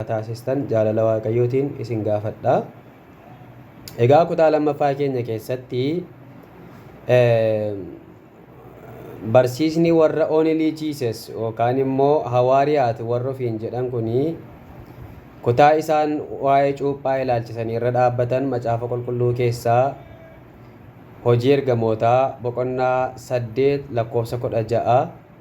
akka taasistan jaalala Waaqayyootiin isin gaafadha. Egaa kutaa lammaffaa keenya keessatti barsiisni warra only Jesus yookaan immoo hawaariyaat warra ofiin jedhan kuni kutaa isaan waa'ee cuuphaa ilaalchisanii irra dhaabbatan macaafa qulqulluu keessaa hojii ergamootaa boqonnaa saddeet lakkoofsa kudha ja'a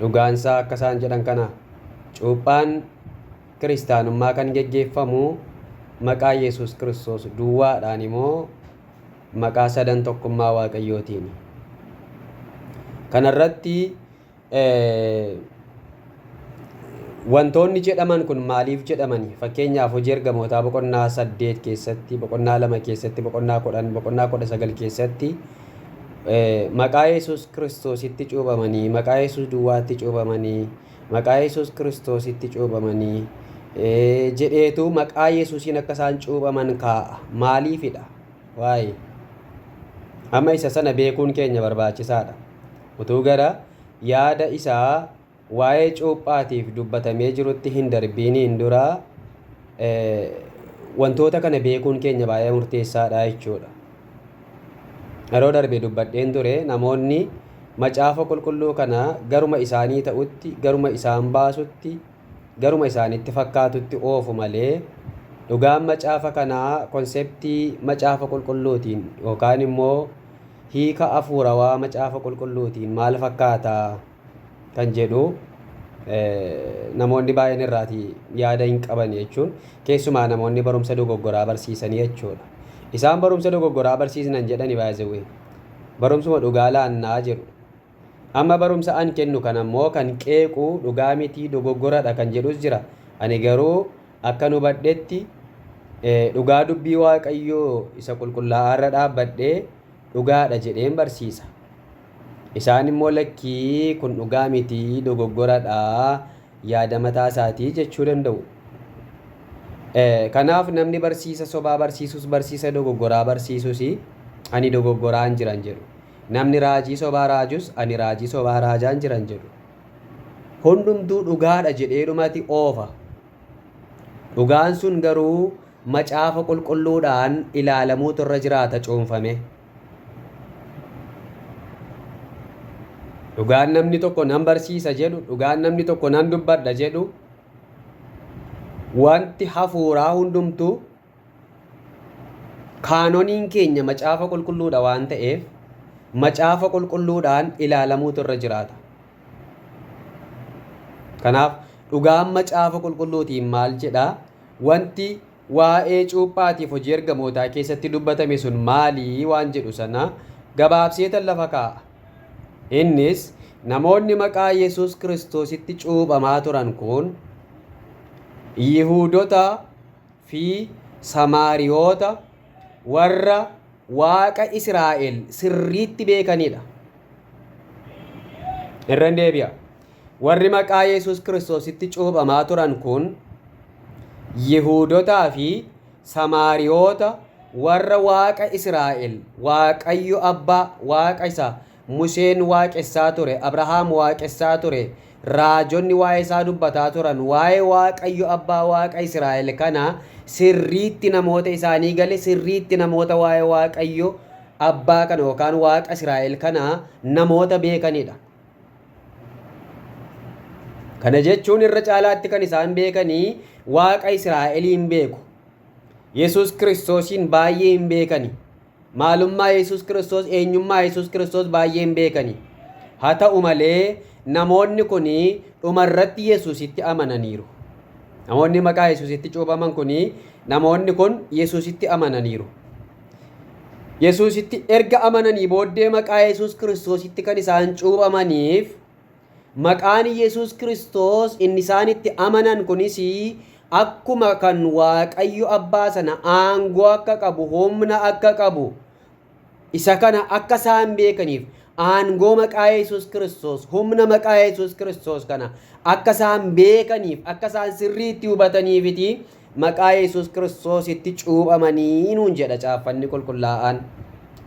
Dhugaansaa akka isaan jedhan kana. Cuuphaan Kiristaanummaa kan geggeeffamu maqaa Yesuus Kiristoos duwwaadhaani moo maqaa sadan tokkummaa Waaqayyootiini? Kanarratti Wantoonni jedhaman kun maaliif jedhamani? Fakkeenyaaf hojii ergamootaa boqonnaa saddeet keessatti, boqonnaa lama keessatti, boqonnaa kudhan, boqonnaa kudha sagal keessatti maqaa Yesuus Kiristoositti cuubamanii, maqaa Yesuus duwwaatti cuubamanii, maqaa Yesuus Kiristoositti cuubamanii jedheetu maqaa Yesuusiin akka isaan cuubaman kaa'a. Maaliifidha? Waa'ee. Amma isa sana beekuun keenya barbaachisaadha. Utuu gara yaada isaa waa'ee cuuphaatiif dubbatamee jirutti hin darbiiniin dura wantoota kana beekuun keenya baay'ee murteessaadha jechuudha. Yeroo darbe dubbadheen ture namoonni macaafa qulqulluu kana garuma isaanii ta'utti, garuma isaan baasutti, garuma isaanitti fakkaatutti oofu malee dhugaan macaafa kanaa konseptii macaafa qulqulluutiin yookaan immoo hiika afuurawaa macaafa qulqulluutiin maal fakkaataa? kan jedhu namoonni baay'een irraati yaada hin qaban jechuun keessumaa namoonni barumsa dogoggoraa barsiisanii jechuudha. Isaan barumsa dogoggoraa barsiisnan jedhani baay'ee barumsuma dhugaa laannaa jedhu. Amma barumsa an kennu kan ammoo kan qeequ dhugaa mitii dogoggoradha kan jedhus jira. Ani garuu akkan hubadhetti dhugaa dubbii waaqayyoo isa qulqullaa'aa irra dhaabbadhee dhugaadha jedheen barsiisa. Isaan immoo lakkii kun dhugaa miti dogoggoradha yaada mataa isaatii jechuu danda'u. Kanaaf namni barsiisa sobaa barsiisus barsiisa dogoggoraa barsiisus ani dogoggoraan jiran jedhu. Namni raajii sobaa raajus ani raajii sobaa raajaan jiran jedhu. Hundumtuu dhugaadha jedheedhumati oofa. Dhugaan sun garuu macaafa qulqulluudhaan ilaalamuutu irra jiraata cuunfamee. Dhugaan namni tokko nan barsiisa jedhu, dhugaan namni tokko nan dubbadha jedhu, wanti hafuuraa hundumtuu kaanoniin keenya macaafa qulqulluudha waan ta'eef macaafa qulqulluudhaan ilaalamuutu irra jiraata. Kanaaf dhugaan macaafa qulqulluutiin maal jedhaa? Wanti Waa'ee cuuphaatiif Hojii Ergamootaa keessatti dubbatame sun maali waan jedhu sana gabaabseetan lafa kaa'a. Innis, namoonni maqaa Yesuus Kiristoositti cuuphamaa turan kun Yihuudota fi Samaariyoota warra Waaqa Israa'el sirriitti beekanii dha. Irran deebi'a. Warri maqaa Yesus Kiristoositti cuuphamaa turan kun, Yihuudotaa fi Samaariyoota warra Waaqa Israa'el, Waaqayyo Abbaa, Waaqa isa Museen waaqessaa ture, Abrahaam waaqessaa ture, raajonni waa'ee isaa dubbataa turan, waa'ee Waaqayyo Abbaa Waaqa Israa'el kana sirriitti namoota isaanii gale, sirriitti namoota waa'ee Waaqayyo Abbaa kana yookaan Waaqa Israa'el kana namoota beekanidha. Kana jechuun irra caalaatti kan isaan beekanii Waaqa Israa'eliin beeku. Yesuus Kiristoosiin baay'ee hin beekani. Maalummaa Yesuus Kiristoos, eenyummaa Yesuus Kiristoos baay'ee hin beekani. Haa ta'u malee namoonni kun dhumarratti Yesuusitti amananiiru. Namoonni maqaa Yesuusitti cuubaman kun namoonni kun Yesuusitti amananiiru. Yesuusitti erga amananii booddee maqaa Yesuus Kiristoositti kan isaan cuuphamaniif maqaan Yesuus Kiristoos inni isaan itti amanan kunis akkuma kan Waaqayyo abbaa sana aangoo akka qabu humna akka qabu isa kana akka isaan beekaniif aangoo maqaa Yesuus Kiristoos humna maqaa Yesuus Kiristoos kana akka isaan beekaniif akka isaan sirriitti hubataniifiti Maqaa Yesus Kiristoositti cuuphamanii nuun jedha Caaffanni Qulqullaa'aan.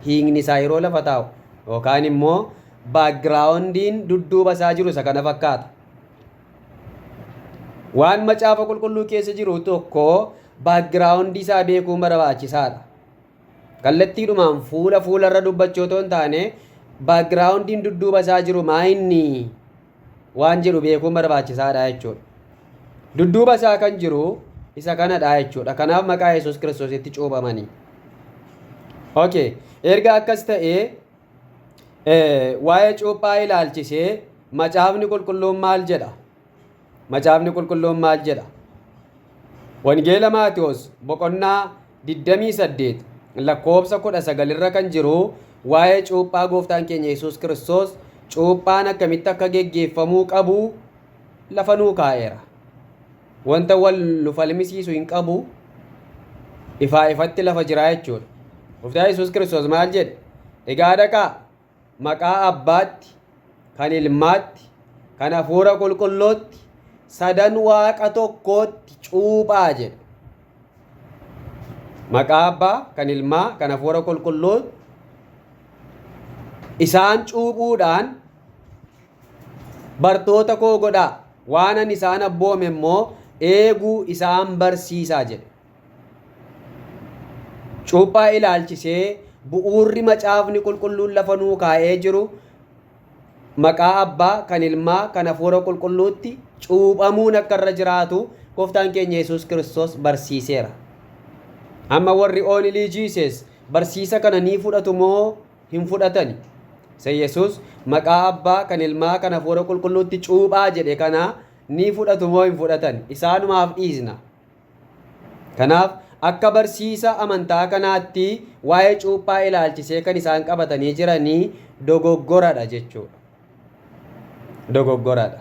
Hiikni isaa yeroo lafa taa'u yookaan immoo baakgiraawundiin dudduuba isaa jiru isa kana fakkaata. Waan Macaafa Qulqulluu keessa jiru tokko baakgiraawundii isaa beekuun barbaachisaadha. Kallattiidhumaan fuula fuularra dubbachuu otoo hin taane baakgiraawundiin dudduuba isaa jiru maa inni? waan jedhu beekuun barbaachisaadha jechuudha. Dudduuba isaa kan jiru isa kanadha jechuudha. Kanaaf maqaa Yesuus Kiristoositti cuuphamanii. Okay. Erga akkas ta'ee waa'ee cuuphaa ilaalchisee macaafni qulqulluun maal jedha? Macaafni qulqulluun maal jedha? Wangeela Maatiyoos boqonnaa 28 lakkoofsa 19 irra kan jiru waa'ee cuuphaa gooftaan keenya Yesuus Kiristoos cuuphaan akkamitti akka geggeeffamuu qabu lafa nuu kaa'eera. Wanta wal nu falmisiisu hin qabu ifaa ifatti lafa jiraa jechuudha. Gooftaan Yesuus Kiristoos maal jedhe? Egaa dhaqaa Maqaa Abbaatti, kan Ilmaatti, kan Hafuura Qulqullootti, sadan Waaqa tokkootti cuuphaa jedhe. Maqaa Abbaa, kan Ilmaa, kan Hafuura Qulqulluu isaan cuuphuudhaan bartoota koo godhaa, waanan isaan abboome immoo eeguu isaan barsiisaa jedhe. Cuuphaa ilaalchisee bu'uurri macaafni qulqulluun lafa nuu kaa'ee jiru maqaa abbaa kan ilmaa kan hafuura qulqulluutti cuuphamuun akka irra jiraatu gooftaan keenya yesus kiristoos barsiiseera. Amma warri oonilii jiisees barsiisa kana ni fudhatu moo hin fudhatani? Isa yesus maqaa abbaa kan ilmaa kan hafuura qulqulluutti cuuphaa jedhe kana ni fudhatu moo hin fudhatan isaanumaaf dhiisna. Kanaaf, akka barsiisa amantaa kanaatti waa'ee cuuphaa ilaalchisee kan isaan qabatanii jiranii dogoggoradha jechuudha. Dogoggoradha.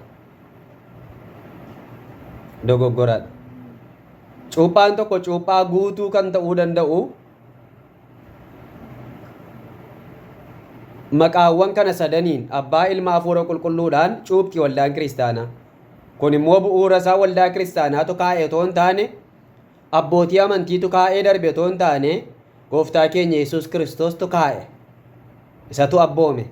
Dogoggoradha. Cuuphaan tokko cuuphaa guutuu kan ta'uu danda'u maqaawwan kana sadaniin abbaa ilma hafuura qulqulluudhaan cuuphti waldaan kiristaanaa. Kun immoo bu'uura isaa waldaa kiristaanaatu kaa'e otoo hin taane, abbootii amantiitu kaa'ee darbe otoo hin taane, gooftaa keenya Yesuus Kiristoostu kaa'e. Isatu abboome.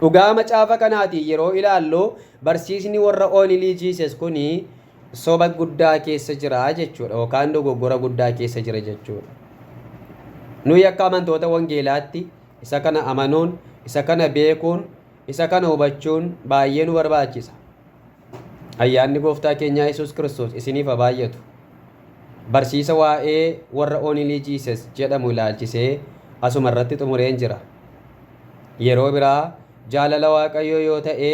Dhugaa macaafa kanaatiin yeroo ilaallu barsiisni warra Only Jesus kun soba guddaa keessa jira jechuudha yookaan dogoggora guddaa keessa jira jechuudha. Nuyi akka amantoota wangeelaatti isa kana amanuun, isa kana beekuun Isa kana hubachuun baay'ee nu barbaachisa. Ayyaanni Gooftaa keenyaa Yesuus Kiristoos isiniif haa baay'atu. Barsiisa waa'ee warra Only Jesus jedhamu ilaalchisee asuma irratti xumureen jira. Yeroo biraa jaalala Waaqayyoo yoo ta'e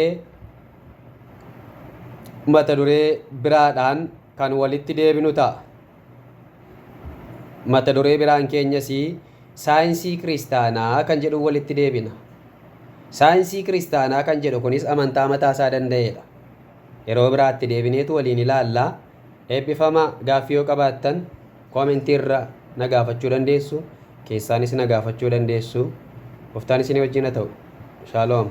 mata duree biraadhaan kan walitti deebinu ta'a. Mata duree biraan keenyas saayinsii kiristaanaa kan jedhuun walitti deebina. Saayinsii kiristaanaa kan jedhu kunis amantaa mataa isaa danda'eedha. Yeroo biraatti deebineetu waliin ilaalla. Eebbifama gaaffii yoo qabaattan koomentii irra na gaafachuu dandeessu. Keessaanis na gaafachuu dandeessu. Gooftaan isinii wajjin haa ta'u. Shaaloom.